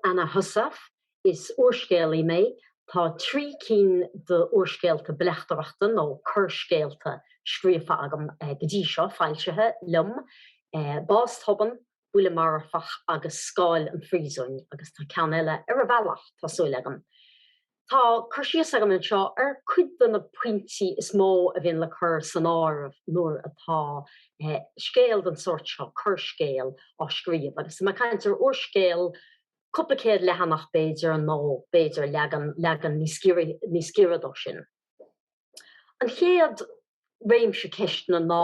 Anna Heussaff Is úrscéalaí mé. Tá trí cinn d'úrscéalta bleachtaireachta nó coirscéalta scríofa agam go dtí seo, foilsithe liom, Bás Tobann, Buille Marfach agus Scáil an Phríosúin, agus tá ceann eile ar an bhealach, tá súil agam. Tá cur síos agam anseo ar cuid de na pointí is mó a bhíonn le cur san áireamh nuair atá scéal den sórt seo, coirscéal, á scríobh. Agus tá mé ag caint ar úrscéal cúpla céad leathanach, b'fhéidir, nó b'fhéidir leaga, leagan níos, níos giorra de sin. An chéad réimse ceisteanna ná.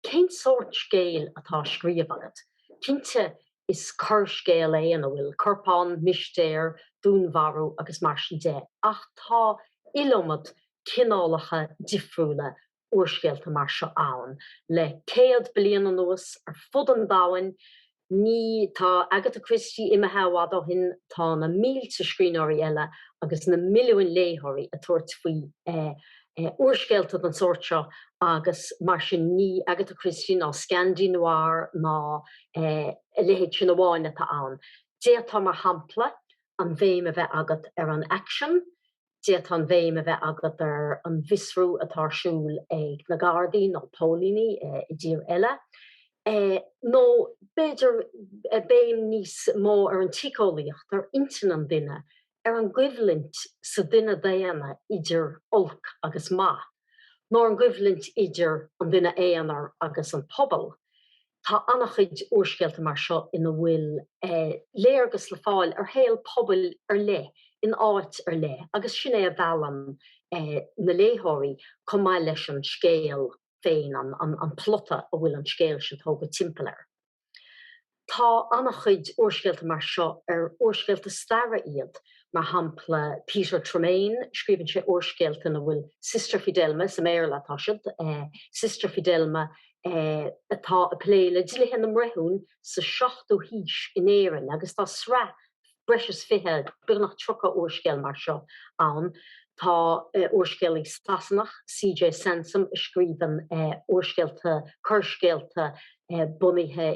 Cén sórt scéil atá á scríobh agat? Cinnte is coirscéal é ina bhfuil corpán, mistéir, dúnmharú agus mar sin de ach tá iliomad cineálacha difriúla úrscéalta mar seo ann le céad bliain anuas ar fud an domhain Ní, tá Agatha Christie imithe i bhfad ó shin, tá na mílte scríbhneoirí eile agus na milliúin léitheoirí ag tabhairt faoi úrscéalta den sórt seo agus mar sin ní Agatha Christie ná Scandi Noir ná a leithéid sin amháin atá ann. D'fhéadfá, mar shampla, an bhéim a bheith agat ar an aicsean, D'fhéadfá an bhéim a bheith agat ar an bhfiosrú atá ar siúl ag na Gardaí nó póilíní i dtír eile. Nó b'fhéidir béim níos mó ar an tsíceolaíocht, ar intinn an duine, ar an gcoimhlint sa duine daonna idir olc agus maith, nó ar an gcoimhlint idir an duine aonair agus an pobal. Tá an-chuid úrscéalta mar seo ina bhfuil léargas le fáil ar shaol pobail ar leith in áit ar leith agus sin é a mheallann na léitheoirí chomh maith leis an scéal féin, an plota a bhfuil an scéal sin tógha timpeall air. Tá an-chuid úrscéalta mar seo ar úrscéalta staire iad, mar shampla Peter Tremayne, scríobhann sé úrscéalta ina bhfuil Sister Fidelma, sa mBéarla atá siad, Sister Fidelma, atá ag plé le dlíthe na mBreithiún sa seachtú haois in Éirinn agus tá sraith breis is fiche, beagnach tríocha úrscéal mar seo ann. Tá úrscéalaí Sasanach, CJ Sansom, a scríobhann úrscéalta, coirscéalta bunaithe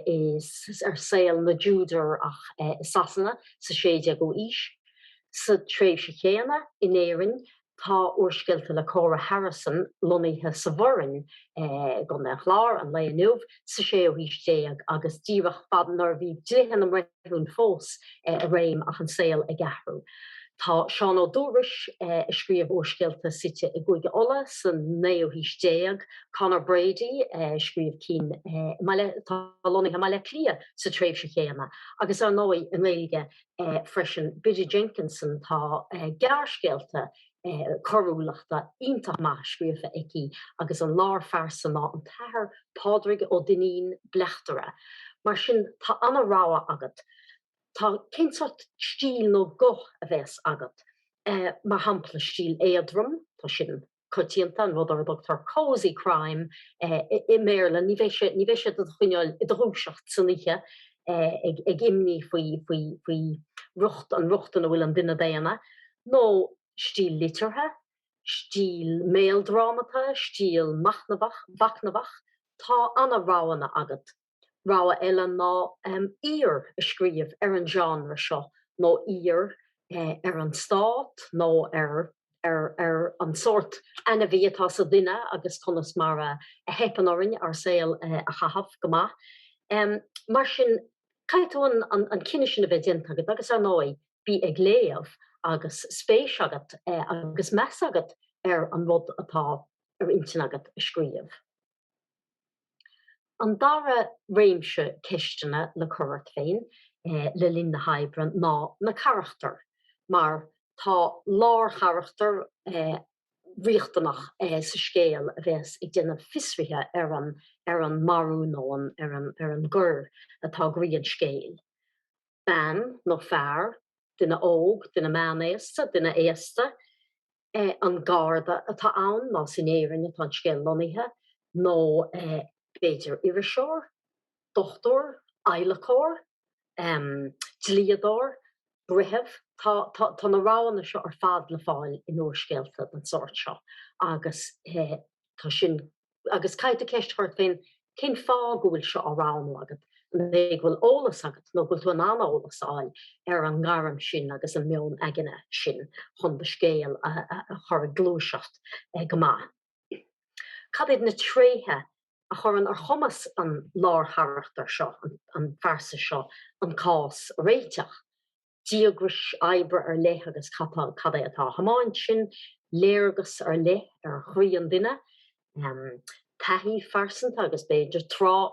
ar saol na dTúdarach i Sasana sa 16ú aois. Sa tréimhse chéanna in Éirinn, Tá úrscéalta le Cora Harrison lonnaithe sa Bhoirinn i gContae an Chláir an lae inniu, sa séú haois déag agus díreach fad nuair a bhí dlíthe na mBreithiún fós i réim ach an saol ag athrú. Tá Seán Ó Dúrois, a scríobh úrscéalta suite i gCúige Uladh sa naoú haois déag, Conor Brady, a scríobh cinn atá lonnaithe i mBaile Átha Cliath sa tréimhse chéanna, agus ar ndóigh i nGaeilge. freisin Biddy Jenkinson, tá gearrscéalta coiriúlachta iontach maith scríofa aici agus an lárphearsa ná an tAthair Pádraig Ó Duinnín, bleachtaire. Mar sin tá ana rogha agat. Tá, cén sórt stíl nó guth a bheas agat? Mar shampla, stíl éadrom, tá sin. coitianta, an rud ar a dtugtar cozy crime i mBéarla, ní bheidh sé, ní bheidh sé do do choinneáil i do dhúiseacht san oíche ag imní faoi, faoi, faoi riocht, an riocht ina bhfuil an duine daonna, nó stíl liteartha, stíl méaldrámata, stíl machnamhach, mhachnamhach, tá ana-roghanna agat. Rogha eile ná aoir a scríobh ar an genre seo nó aoir ar an stát nó ar an sórt ainmhí atá sa duine agus conas mar a theipeann orainn ár saol a chaitheamh go maith. Mar sin, caithfidh tú an cinneadh sin a bheith déanta agat agus ar ndóigh, bí ag léamh agus spéis agat agus meas agat ar an rud atá ar intinn agat a scríobh. An dara réimse ceisteanna le cur ort féin le linn na hoibre ná na carachtair, mar tá lárcharachtar riachtanach sa scéal a bheas ag déanamh fiosraithe ar, ar an marú nó ar an gcoir atá ag croí an scéil. Bean nó fear, duine óg, duine meánaosta, duine aosta. an Garda atá ann, más in Éirinn atá an scéal lonnaithe, nó b'fhéidir iriseoir, dochtúir, adhlacóir, dlíodóir, breitheamh. Tá na roghanna seo ar fad le fáil in úrscéalta den sórt seo agus tá sin Agus caithfidh tú ceist a chur ort féin, cén fáth go bhfuil seo á roghnú agat? An é go bhfuil eolas agat nó go bhfuil tú in ann eolas a fháil ar an ngairm sin agus an meon aigne sin chun do scéal a chur ag gluaiseacht go maith? Cad é na tréithe a chuireann ar chumas an lárcharachtair seo, an phearsa seo, an cás a réiteach? díograis oibre ar leith agus cad é atá á thiomáint sin, léargas ar leith ar chroí an duine, taithí phearsanta agus b'fhéidir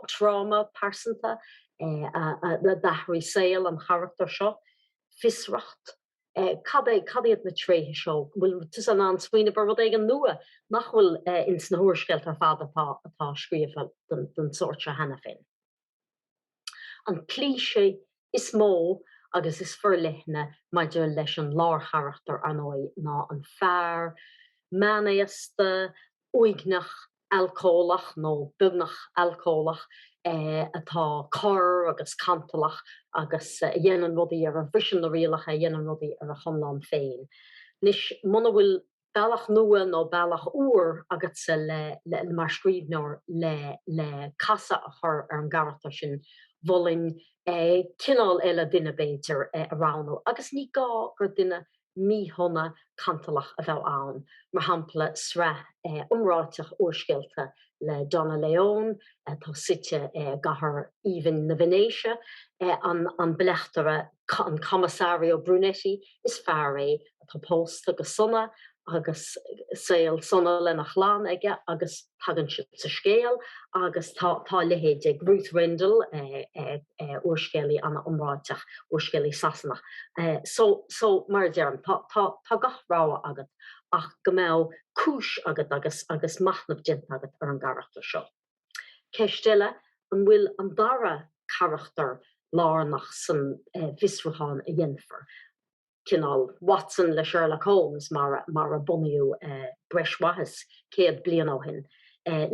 tráma pearsanta a d'athraigh saol an charachtair seo, fiosracht, cad é, cad iad na tréithe seo, bhfuil tusa in ann smaoineamh ar rud éigin nua nach bhfuil ins na húrscéalta ar fad atá scríofa den sórt seo cheana féin. An cliché is mó agus is forleithne maidir leis an lárcharachtar, ar ndóigh, ná an fear meánaosta, uaigneach, alcólach, nó beagnach alcólach, atá corr agus cantalach agus a dhéanann rudaí ar a bhriseann na rialacha, a dhéanann rudaí ar a chonlán féin. Anois, muna bhfuil bealach nua nó bealach úr agatsa le, le, le, mar scríbhneoir, le, le casadh a chur ar an gcarachtar sin, mholfainn cineál eile duine, b'fhéidir, a roghnú agus ní gá gur duine míshona cantalach a bheadh ann, mar shampla, sraith iomráiteach úrscéalta le Donna Leon atá suite i gcathair aoibhinn na Veinéise, an, an bleachtaire, an Commissario Brunetti, is fear é atá pósta go sona agus saol sona lena chlann aige agus tagann siad sa scéal agus tá a leithéid ag Ruth Rendell, úrscéalaí ana iomráiteach, úrscéalaí Sasanach. So, so, mar a deirim, tá, tá, tá gach rogha agat ach go mbeadh cúis agat agus, agus machnamh déanta agat ar an gcarachtar seo. Ceist eile an bhfuil an dara carachtar lárnach san bhfiosrúchán a dhéanfar, cineál Watson le Sherlock Holmes mar a bunaíodh breis mhaith is céad bliain ó shin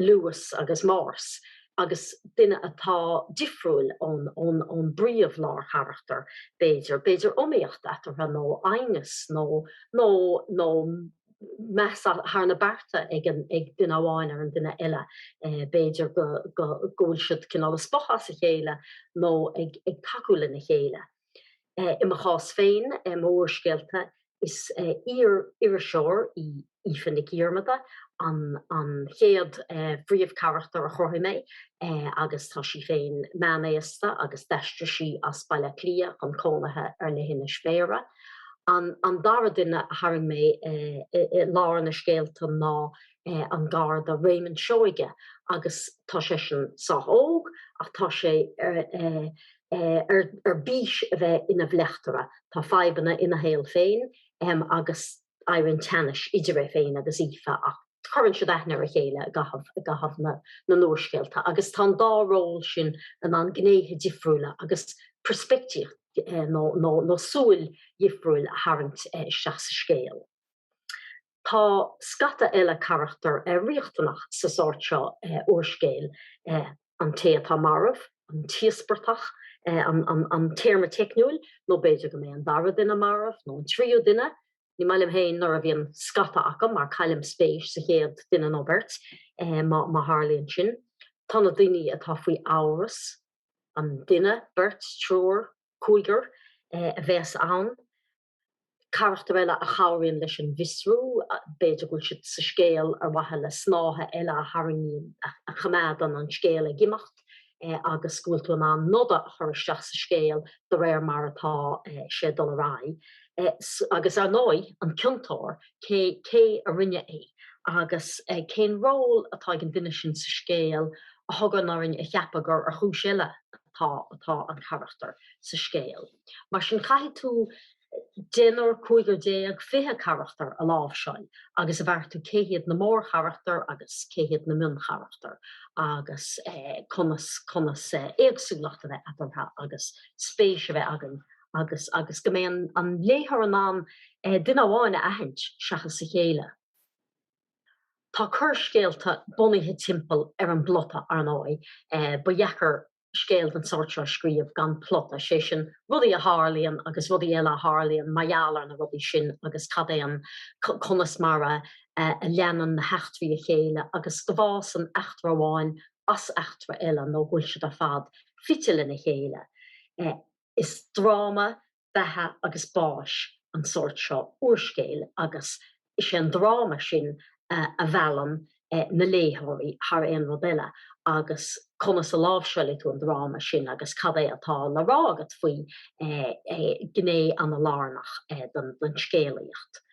Lewis agus Morse, agus duine atá difriúil ón bpríomh lárcharachtar b'fhéidir, b'fhéidir iomaíocht eatarthu nó aighneas nó. meas thar na bearta ag an ag duine amháin ar an duine eile. B'fhéidir go go go bhfuil siad cineál ag spochadh as a chéile nó ag ag tacú lena chéile. I mo chás féin, mo úrscéalta, is iar-iriseoir í Aoife Nic Dhiarmada an an chéad phríomhcharachtar a chruthaigh mé agus tá sí féin meánaosta agus d'aistrigh sí as Baile Átha Cliath chun cónaithe ar leithinis Bhéarra. An an dara duine a tharraing mé i lár na scéalta ná an garda Réamonn Seoighe agus tá sé sin sách óg ach tá sé ar bís a bheith ina bhleachtaire. Tá fadhbanna ina shaol féin agus éiríonn teannas idir é féin agus Aoife ach cuireann siad aithne ar a chéile i gcaitheamh i gcaitheamh na n-úrscéalta agus tá an dá ról sin in ann gnéithe difriúla agus peirspictíocht nó súil dhifriúil a tharraingt isteach sa scéal. Tá scata eile carachtar riachtanach sa sórt seo úrscéil. an té atá marbh, an t-íospartach, an téarma teicniúil, nó b'fhéidir go mbeidh an dara duine marbh, nó an tríú duine, ní maith liom féin nuair a bhíonn scata acu mar caillim spéis sa chéad duine nó beirt má tharlaíonn sin. Tá na daoine atá faoi amhras, an duine, beirt, triúr, cúigear a bheas ann? carachtar eile a chabhraíonn leis an bhfiosrú, b'fhéidir go bhfuil siad sa scéal ar mhaithe le snáithe eile a tharraingíonn, a choimeádann an scéal ag imeacht agus go bhfuil tú in ann noda a chur isteach sa scéal de réir mar atá sé ag dul ar aghaidh. Agus ar ndóigh, an ciontóir, cé cé a rinne é agus cén ról atá ag an duine sin sa scéal a thugann orainn a cheapadh gur ar chúis eile atá atá an carachtar sa scéal. Mar sin, caithfidh tú deichniúr, cúigear déag, fiche carachtar a láimhseáil agus a bheartú cé hiad na mórcharachtair agus cé hiad na mioncharachtair agus conas, conas éagsúlacht a bheith eatarthu agus spéis a bheith againn iontu agus, agus go mbeidh an léitheoir in ann duine amháin a aithint seachas a chéile. Tá coirscéalta bunaithe timpeall ar an bplota, ar ndóigh. Ba dheacair. scéal den tsórt seo a scríobh gan plota, sé sin, rudaí a tharlaíonn agus rudaí eile a tharlaíonn mar gheall ar na rudaí sin agus cad é an, conas mar a leanann na heachtraí a chéile agus go bhfásann eachtra amháin as eachtra eile nó go bhfuil siad ar fad fite lena chéile. Is dráma beatha agus báis an sórt seo úrscéil agus is é an dráma sin a mheallann na léitheoirí thar aon rud eile. Agus conas a láimhseálfaidh tú an dráma sin agus cad é atá le rá agat faoi gné an-lárnach den scéalaíocht?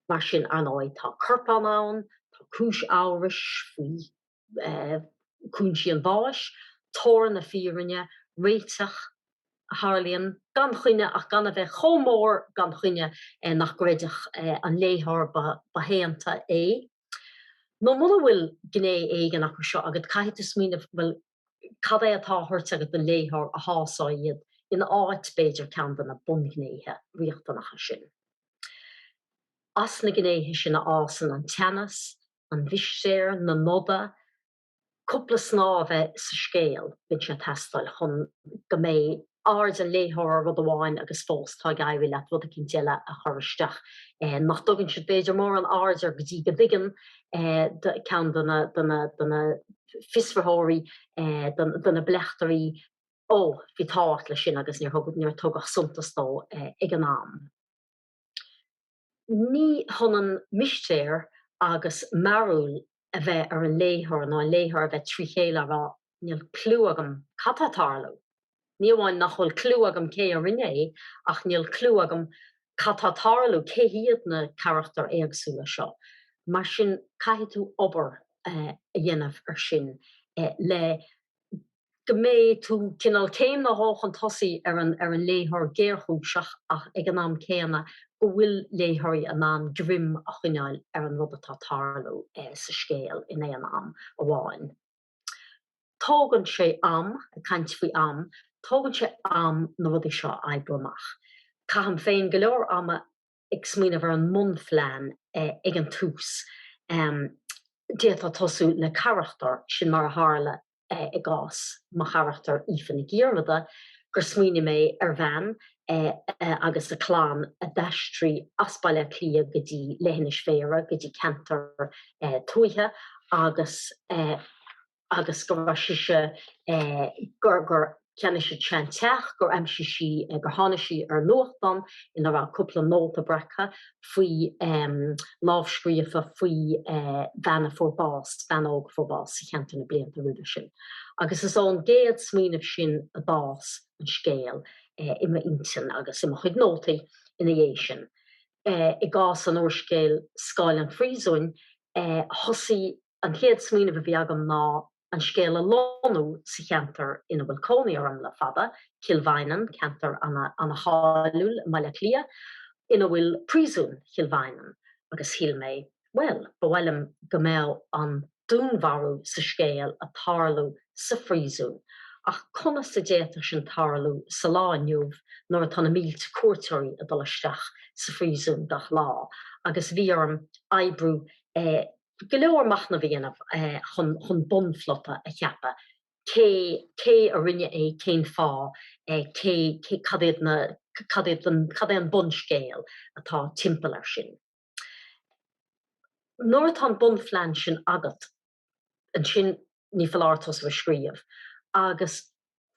Mar sin, ar ndóigh, tá corpán ann, tá cúis amhrais faoi. cúinsí an bháis, tóir na fírinne, réiteach a tharlaíonn gan choinne ach gan a bheith chomh mór gan choinne nach gcreidfeadh an léitheoir ba shaonta é. Nó muna bhfuil gné éigin acu seo agat, caithfidh tú smaoineamh, bhuel, cad é atá á thabhairt agat don léitheoir a shásóidh iad in áit, b'fhéidir, ceann de na bunghnéithe riachtanacha sin. As na gnéithe sin a fhásann an teannas, an mhistéir, na noda, cúpla snáth a bheith sa scéal, bíonn sé ag teastáil chun go mbeidh aird an léitheora ar rud amháin agus fós tá ag éirí leat rud éicint eile a chur isteach nach dtugann siad b'fhéidir mórán aird air go dtí go dtuigeann ceann de na fiosraitheoirí, de na bleachtairí, ó, bhí tábhacht leis sin agus níor tugadh suntas dó ag an am. Ní hionann mistéir agus mearúil a bheith ar an léitheoir, nó an léitheoir a bheith trí chéile á rá, níl cliú agam cad atá ag tarlú. Ní amháin nach bhfuil cliú agam cé a rinne é, ach níl cliú agam cad atá ag tarlú, cé hiad na carachtair éagsúla seo. Mar sin caithfidh tú obair a dhéanamh ar sin le go mbeidh tú cineál céim nó dhó chun tosaigh ar an léitheoir géarchúiseach ach ag an am céanna go bhfuil léitheoirí in ann greim a choinneáil ar an rud atá ag tarlú sa scéal in aon am amháin. Tógann sé am, ag caint faoi am, tógann sé am na rudaí seo a oibriú amach. Caithim féin go leor ama ag smaoineamh ar an mbunphlean ag an tús, d'fhéadfá tosú le carachtar, sin mar a tharla i gcás mo charachtair Aoife Nic Dhiarmada, gur smaoinigh mé ar bhean agus a clann a d'aistrigh as Baile Átha Cliath go dtí Leithinis Bhéarra, go dtí ceantar tuaithe agus. agus go raibh sí, gur cheannaigh siad seanteach gur aimsigh sí gur tháinig sí ar nuachtán ina raibh cúpla nóta breactha faoi lámhscríofa faoi bhean a fuair bás bean óg a fuair bás sa cheantar na blianta roimhe sin agus is ón gcéad smaoineamh sin a d'fhás an scéal i m'intinn agus i mo chuid nótaí ina dhiaidh sin i gcás an úrscéil Scáil an Phríosúin thosaigh An chéad smaoineamh a bhí agam ná an scéal a lonnú sa cheantar ina bhfuil cónaí orm le fada, Cill Mhaighneann, ceantar ana-cháiliúil i mBaile Átha Cliath ina bhfuil Príosún Chill Mhaighneann agus shíl mé, bhuel, ba mhaith liom go mbeadh an dúnmharú sa scéal ag tarlú sa phríosún ach conas a d'fhéadfadh sin tarlú sa lá inniu nuair atá na mílte cuairteoirí ag dul isteach sa phríosún gach lá agus bhí orm oibriú go leor machnaimh a dhéanamh chun bunphlota a cheapadh, cé cé a rinne é, cén fáth, cé cé cad iad na cad iad an cad é an bunscéal atá timpeall ar sin. Nuair atá an bunphlean sin agat, ansin ní foláir tosú ag scríobh agus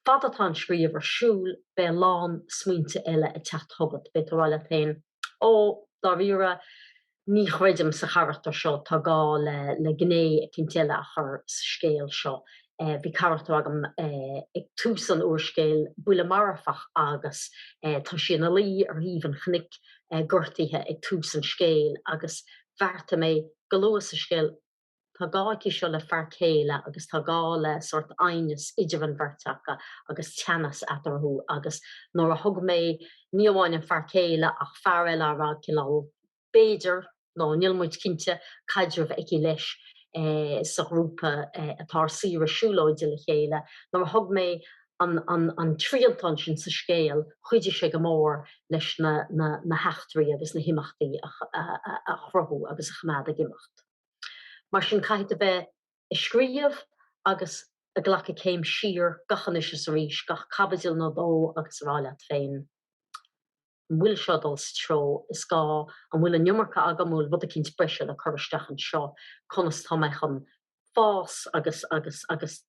Fad atá an scríobh ar siúl beidh a lán smaointe eile ag teacht chugat. Beidh tú ag rá leat féin, Ó, dáiríre, ní chreidim sa charachtar seo, tá gá le gné eicínt eile a chur sa scéal seo. Bhí carachtar agam ag tús an úrscéil, Buille Marfach agus tá sí ina luí ar thaobh an chnoic, gortaithe ag tús an scéil agus bheartaigh mé go luath sa scéal, Tá gá aici seo le fear céile agus tá gá le sórt aighneas idir an bheirt aca agus teannas eatarthu agus nuair a thug mé ní amháin an fear céile ach fear eile a raibh cineál b'fhéidir nó níl muid cinnte caidreamh aici leis sa ghrúpa atá ar saoire siúlóide le chéile, nuair a thug mé an triantán sin sa scéal chuidigh sé go mór leis na heachtraí agus na himeachtaí a chruthú agus a choimeád ag imeacht. Mar sin caithfidh tú bheith ag scríobh agus ag glacadh céim siar gach anois is arís, gach caibidil nó dó agus a rá leat féin An bhfuil seo ag dul sa treo is gá? An bhfuil an iomarca agam? An bhfuil rud eicínt breise le cur isteach anseo? Conas tá mé chun fás agus agus agus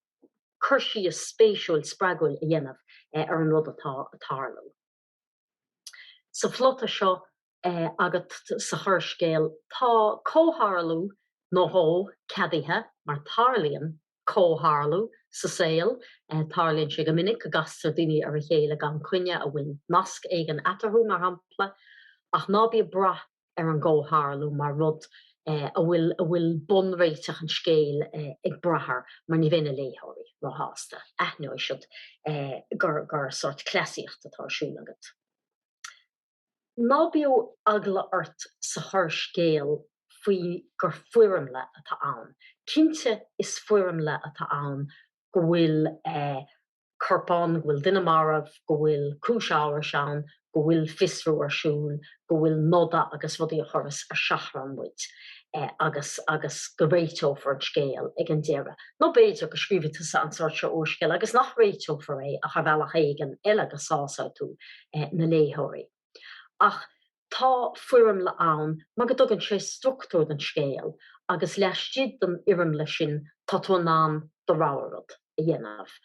cur síos spéisiúil spreagúil a dhéanamh ar an rud atá ag tarlú? Sa phlota seo agat sa choirscéal, tá comhtharlú nó dhó ceadaithe mar tarlaíonn comhtharlú sa saol, tarlaíonn sé go minic go gcastar daoine ar a chéile gan coinne, a bhfuil nasc éigin eatarthu, mar shampla, ach ná bí ag brath ar an gcomhtharlú mar rud a bhfuil bunréiteach an scéil ag brath air, mar ní bheidh na léitheoirí róshásta, aithneoidh siad gur sórt cleasaíocht atá ar siúl agat. Ná bíodh eagla ort sa choirscéal faoi gur foirmle atá ann. Cinnte is foirmle atá ann go bhfuil. corpán, go bhfuil duine marbh, go bhfuil cúis amhrais ann, go bhfuil fiosrú ar siúl, go bhfuil noda agus rudaí a chuireas ar seachrán muid agus agus go réiteofar an scéal ag an deireadh. Nó b'fhéidir go scríobhfaidh tusa an sórt seo úrscéal agus nach réiteofar é ach ar bhealach éigin eile go sásóidh tú na léitheoirí. Ach Tá foirmle ann mar go dtugann sé struchtúr don scéal agus laistigh den fhoirmle sin tá tú in ann do rogha rud a dhéanamh.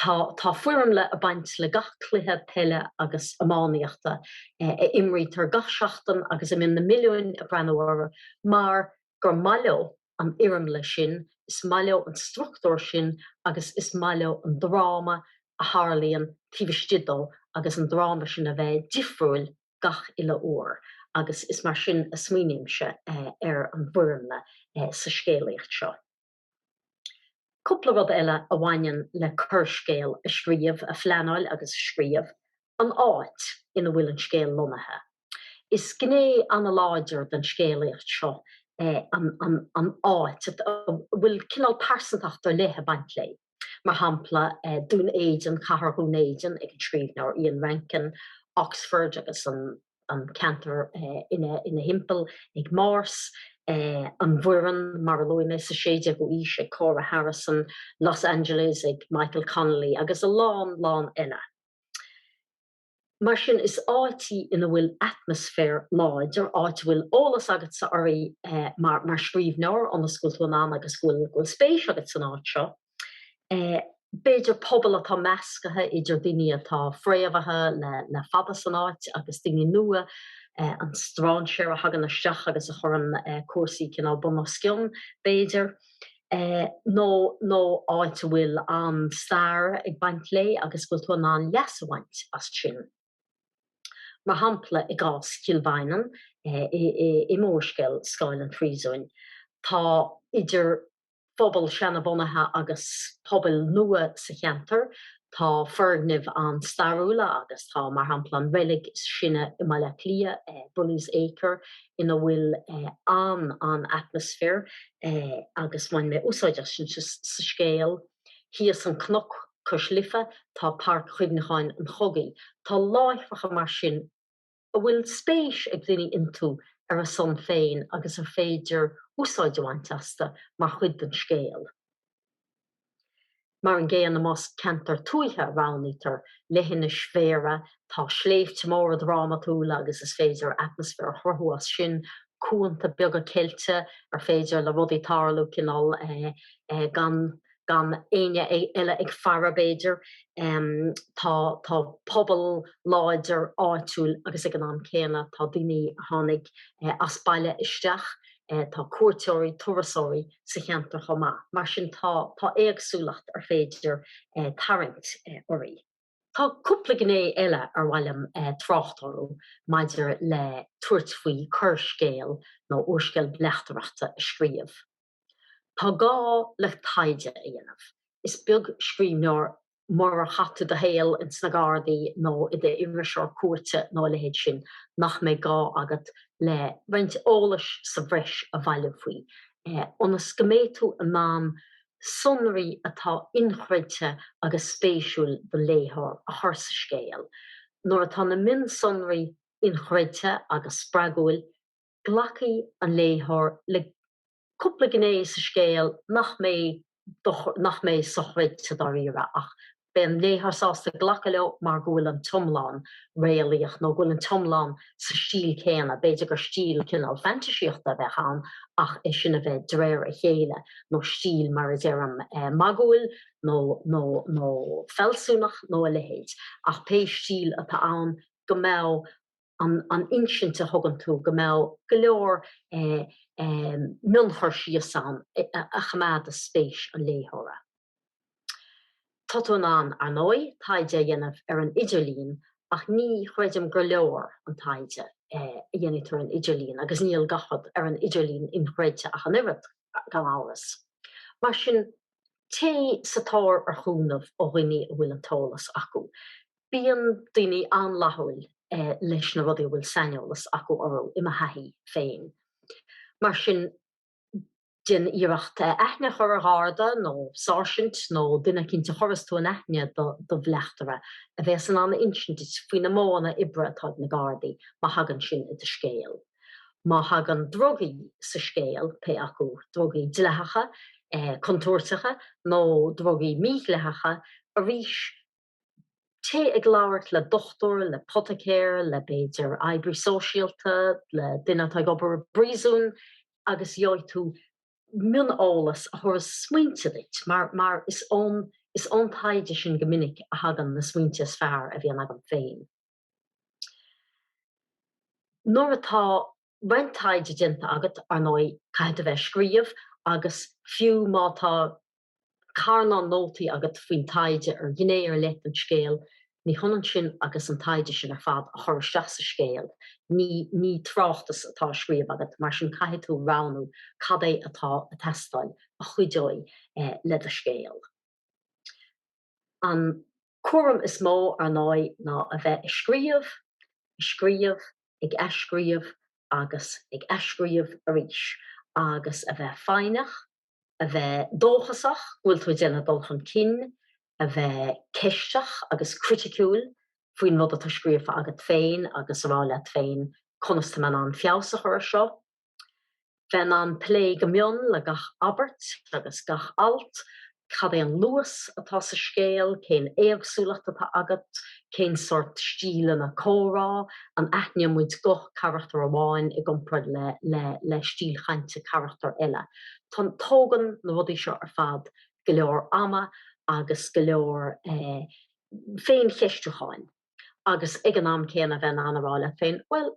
Tá tá foirmle ag baint le gach cluiche peile agus iománaíochta a imrítear gach seachtain agus a mbionn na milliúin ag breathnú orthu mar gur maith leo an fhoirmle sin, is maith leo an struchtúr sin agus is maith leo an dráma a tharlaíonn taobh istigh dó agus an dráma sin a bheith difriúil gach uile uair agus is mar sin a smaoinímse ar an bhfoirmle sa scéalaíocht seo. Cúpla rud eile a bhaineann le coirscéal a scríobh, a phleanáil agus a scríobh, an áit ina bhfuil an scéal lonnaithe. Is gné an-láidir den scéalaíocht seo é an áit, a bhfuil cineál pearsantacht ar leith ag baint léi, mar shampla, Dún Éideann, Cathair Dhún Éideann ag an scríbhneoir Ian Rankin, Oxford agus an ceantar ina thimpeall ag Morse, an Bhoireann, mar a luaigh mé, sa 16ú aois ag Cora Harrison, Los Angeles ag Michael Connolly agus a lán lán eile. Mar sin, is áit í ina bhfuil atmaisféar láidir, áit a bhfuil eolas agatsa uirthi mar scríbhneoir ionas go bhfuil tú in ann agus go bhfuil spéis agat san áit seo. B'fhéidir pobal atá meascaithe idir daoine atá fréamhaithe le fada san áit agus daoine nua, an strainséir a thagann isteach agus a chuireann cúrsaí cineál bun os cionn, b'fhéidir. nó áit a bhfuil an-stair ag baint léi agus bhfuil tú in ann leas a bhaint as sin. Mar shampla, i gcás Chill Mhaighneann i m'úrscéal Scáil an Phríosúin, tá idir phobal seana-bhunaithe agus pobal nua sa cheantar, Tá foirgnimh an-stairiúla agus tá, mar shampla, an reilig is sine i mBaile Átha Cliath, Bully's Acre, ina bhfuil an-an-atmaisféar agus bhain mé úsáid as sin sa scéal. Thíos an cnoc cois Life tá Páirc Chuimhneacháin an Chogaidh. Tá láithreacha mar sin. a bhfuil spéis ag daoine iontu ar a son féin agus ar féidir úsáid a bhaint astu mar chuid den scéal. Mar an gcéanna, más ceantar tuaithe a roghnaítear, leithinis Bhéarra, tá sléibhte móra drámatúla agus is féidir atmaisféar a chruthú as sin, cuanta beaga ceilte ar féidir le rudaí tarlú cineál gan gan éinne eile ag faire b'fhéidir, tá pobal láidir áitiúil agus ag an am céanna tá daoine a tháinig as baile isteach, tá cuairteoirí, turasóirí sa cheantar chomh maith. Mar sin tá éagsúlacht ar féidir tarraingt uirthi. Tá cúpla gné eile ar mhaith liom trácht orthu maidir le tabhairt faoi gearrscéal nó úrscéal bleachtaireachta a scríobh. Tá gá le taighde a dhéanamh. Is beag scríbhneoir murar chaith tú do shaol ins na Gardaí nó i d'iriseoir cúirte nó a leithéid sin, nach mbeidh gá agat le roinnt eolais sa bhreis a bhailiú faoi ionas go mbeidh tú in ann sonraí atá inchreidte agus spéisiúil don léitheoir a chur sa scéal. Nuair atá na mionsonraí inchreidte agus spreagúil, Glacfaidh an léitheoir le cúpla gné sa scéal nach mbeidh, nach mbeidh sochreidte dáiríre, ach beidh an léitheoir sásta glacadh leo mar go bhfuil an t-iomlán réalaíoch nó go bhfuil an t-iomlán sa stíl chéanna. B'fhéidir gur stíl cineál fantaisíochta a bheadh ann ach é sin a bheith de réir a chéile nó stíl, mar a déarfá, magúil nó, nó, nó fealsúnach nó a leithéid. Ach pé stíl atá ann go mbeidh. an insint a thugann tú go mbeadh go leor mionchur síos ann a choimeádas spéis an léitheora. Tá tú in ann, ar ndóigh, taighde a dhéanamh ar an idirlíon ach ní chreidim gur leor an taighde a dhéanfaidh tú ar an idirlíon agus níl gach rud ar an idirlíon inchreidte ach an oiread, gan amhras. Mar sin, téigh sa tóir ar chúnamh ó dhaoine a bhfuil an t-eolas acu. Bíonn daoine an-fhlaithiúil leis na rudaí a bhfuil saineolas acu orthu, i mo thaithí féin. Mar sin, déan iarracht aithne a chur ar gharda nó sáirsint nó duine eicínt a chuireas tú in aithne do do bhleachtaire, a bheas in ann a insint duit faoi na modhanna oibre atá ag na gardaí, má thagann sin i do scéal. Má thagann drugaí sa scéal, pé acu drugaí dleathacha, contúirteacha nó drugaí mídhleathacha, arís, Téigh ag labhairt le dochtúir, le poiticéir, le, b'fhéidir, oibrí sóisialta, le duine atá ag obair i bpríosún agus gheobhaidh tú mioneolas a thabharfas smaointe duit mar, mar is ón, is ón taighde sin go minic a thagann na smaointe is fearr a bhíonn agam féin. Nuair atá roinnt taighde déanta agat, ar ndóigh, caithfidh tú bheith ag scríobh agus fiú má tá carnán nótaí agat faoin taighde ar ghné ar leith den scéal, ní hionann sin agus an taighde sin ar fad a chur isteach sa scéal. Ní ní tráchtas atá á scríobh agat, mar sin caithfidh tú roghnú cad é atá ag teastáil a chuideoidh le do scéal. An cúram is mó, ar ndóigh, ná a bheith ag scríobh, ag scríobh, ag athscríobh agus ag athscríobh arís, agus a bheith foighneach, A bheith dóchasach go bhfuil tú ag déanamh dul chun cinn, a bheith ceisteach agus criticiúil faoin rud atá scríofa agat féin agus a rá leat féin 'conas tá mé in ann feabhas a chur ar seo? Bheith in ann plé go mion le gach abairt agus gach alt, cad é an luas atá sa scéal, cén éagsúlacht atá agat, cén sórt stíleanna comhrá, an aithníonn muid guth carachtar amháin i gcomparáid le stíl chainte carachtar eile. Tá, tógann na rudaí seo ar fad go leor ama agus go leor féincheistiúcháin agus ag an am céanna bheith in ann a rá leat féin, 'Bhuel,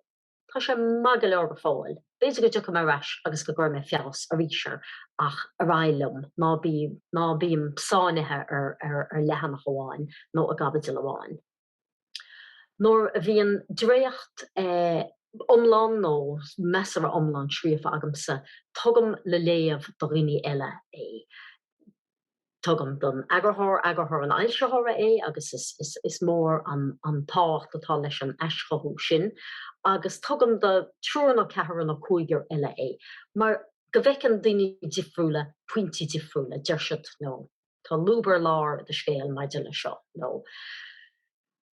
Tá sé maith go leor go fóill. B'fhéidir go dtiocfaidh mé ar ais agus go gcuirfidh mé feabhas arís air ach ar aghaidh liom, ná bím sáinnithe ar leathanach amháin nó i gcaibidil amháin. Nuair a bhíonn dréacht iomlán nó measartha iomlán scríofa agamsa, tugaim le léamh do dhaoine eile é. Tugaim don eagarthóir, eagarthóir an fhoilsitheora é agus is mór an tábhacht atá leis an aischothú sin agus tugaim do triúr nó ceathrar nó cúigear eile é mar go bhfeiceann daoine difriúla pointí difriúla. Deir siad, you know, tá lúb ar lár i do scéal maidir leis seo nó.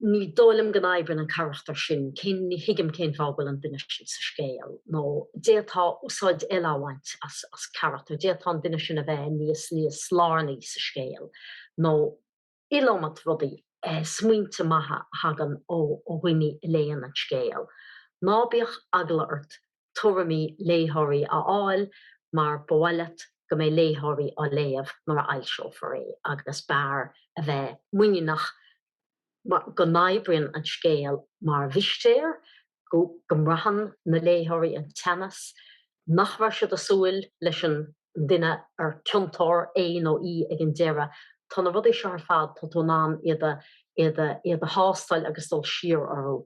ní dóigh liom go n-oibreann an carachtar sin, cén, ní thuigim cén fáth go bhfuil an duine sin sa scéal, nó d'fhéadfá úsáid eile a bhaint as, as carachtar, d'fhéadfá an duine sin a bheith níos, níos lárnaí sa scéal, nó iliomad rudaí, smaointe maithe a thagann ó, ó dhuine a léann an scéal. Ná bíodh eagla ort tuairimí léitheoirí a fháil mar ba mhaith leat go mbeidh léitheoirí á léamh nuair a fhoilseofar é agus b'fhearr a bheith muiníneach go n-oibríonn an scéal mar mhistéir, go mbraitheann na léitheoirí an teannas, nach raibh siad ag súil leis an duine ar ciontóir é nó í ag an deireadh. Tá na rudaí seo ar fad, tá tú in ann iad a thástáil agus dul siar orthu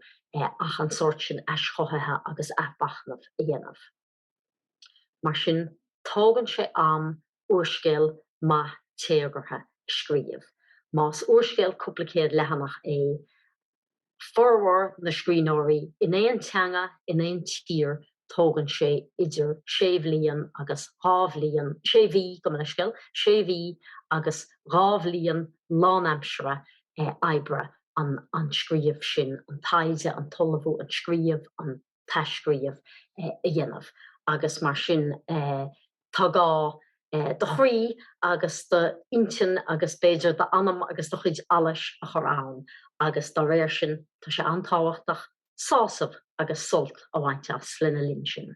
ach an sórt sin aischothaithe agus athmhachnaimh a dhéanamh. Mar sin, tógann sé am úrscéal maith téagartha a scríobh. Más úrscéal cúpla céad leathanach é formhór na scríbhneoirí in aon teanga in aon tír, tógann sé idir sé bhliain agus dhá bhliain, sé mhí, gabh mo leithscéal, sé mhí agus dhá bhliain lánaimsire oibre an scríobh sin, an taighde, an t-ullmhú, an scríobh, an. t-athscríobh a dhéanamh agus mar sin tá gá do chroí agus do intinn agus b'fhéidir d'anam agus do chuid allais a chur ann agus dá réir sin tá sé an-tábhachtach sásamh agus sult a bhaint as lena linn sin.